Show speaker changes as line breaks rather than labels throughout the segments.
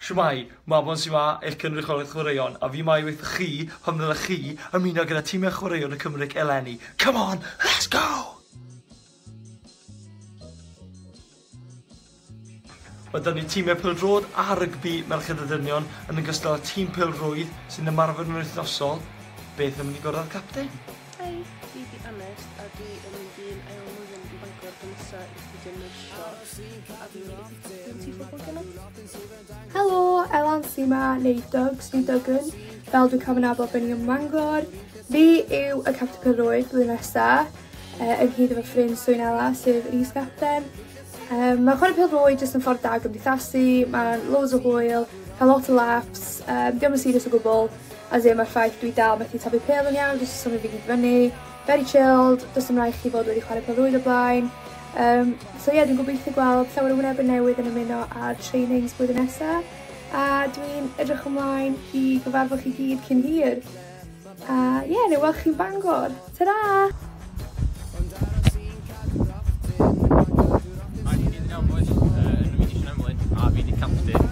Shwmae, Mabon Siwa eich cynrychiolydd chwaraeon a fi mae wrthoch chi pam ddylech chi ymuno gyda timau chwaraeon y Cymric eleni. Come on, let's go! Mae da ni timau pêl-droed a rygbi merched a dynion yn ogystal â tîm pêl-rwydd sy'n ymarfer yn wythnosol. Beth am i ni gwrdd â'r capten? Hei, fi 'di Aned a dwi yn mynd i'n ail flwyddyn yn Bangor tro nesa i astudio nyrsio a dwi
wedi Helo,
Elan sy'n ma, neu Dogs, neu Duggan, fel dwi'n cael fy nabod ben i ym Mangor. Fi yw y captain pyrrwyd blwyddyn nesa, uh, yn hyd efo ffrind Swyn Ela, sef yr is-gapten. Um, mae chwarae pêl rwy jyst yn ffordd da gymdeithasu, mae loads o hwyl, cael lot o laps, um, diolch yn serious o gwbl, as in mae'r ffaith dwi dal methu tabu pêl yn iawn, jyst yn symud fi gyd fyny, Very chilled, does dim raid chdi fod wedi chwarae pêl-rwyd o blaen. Um, so ie, yeah, dwi'n gobeithio gweld llawer o wynebau newydd yn ymuno ar trainings blwyddyn nesaf, a dwi'n edrych ymlaen i gyfarfod chi gyd cyn hir. A ie, yeah, neu weld chi'n Bangor. Ta-ra!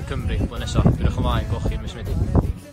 Cymru blwyddyn nesaf. Dwi'n edrych ymlaen, gwelwch chi yn mis Medi.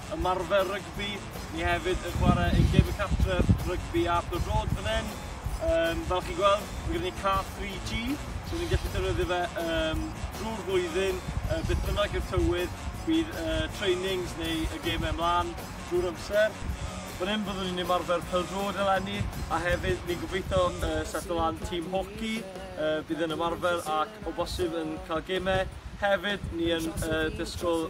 ymarfer rygbi, ni hefyd yn chwarae ein gêm y cartref, rygbi ar Apton Road fan hyn. Um, fel chi'n gweld, mae gen i car 3G, so ni'n gallu defnyddio fe um, drwy'r flwyddyn, uh, beth bynnag yw'r tywydd, bydd uh, trainings neu y gemau ymlaen drwy'r amser. Fan hyn byddwn ni'n ymarfer pel-drod eleni, a hefyd ni'n gobeithio uh, setlo lan tîm hoci, uh, bydd yn ymarfer ac o bosib yn cael gemau. Hefyd, ni yn uh, disgwyl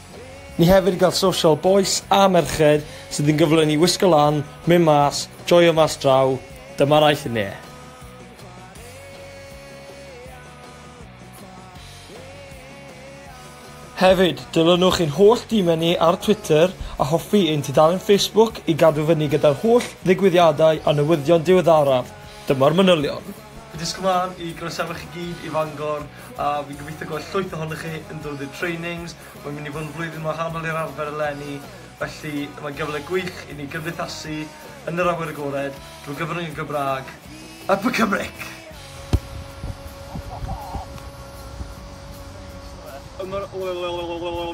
Ni hefyd gall social bois a merched sydd yn gyflwyn i wisgo lan, mynd mas, joio mas draw, dyma'r aeth i ne. Hefyd, dilynwch ein holl dîmau ni ar Twitter a hoffi ein tudalen Facebook i gadw fyny gyda'r holl ddigwyddiadau a newyddion diweddaraf. Dyma'r manylion. Diolch yn fawr i groesawu chi gyd i Fangor. A fi'n gobeithio gweld llwyth ohonoch chi yn dod i'r trainings. Mae'n mynd i fod yn flwyddyn wahanol i'r arfer eleni, felly mae'n gyfle gwych i ni gymdeithasu yn yr awyr agored drwy gyfrwng y Gymraeg. Up y Cymric! Ymrwymiad i fod yn rhan o Gymru.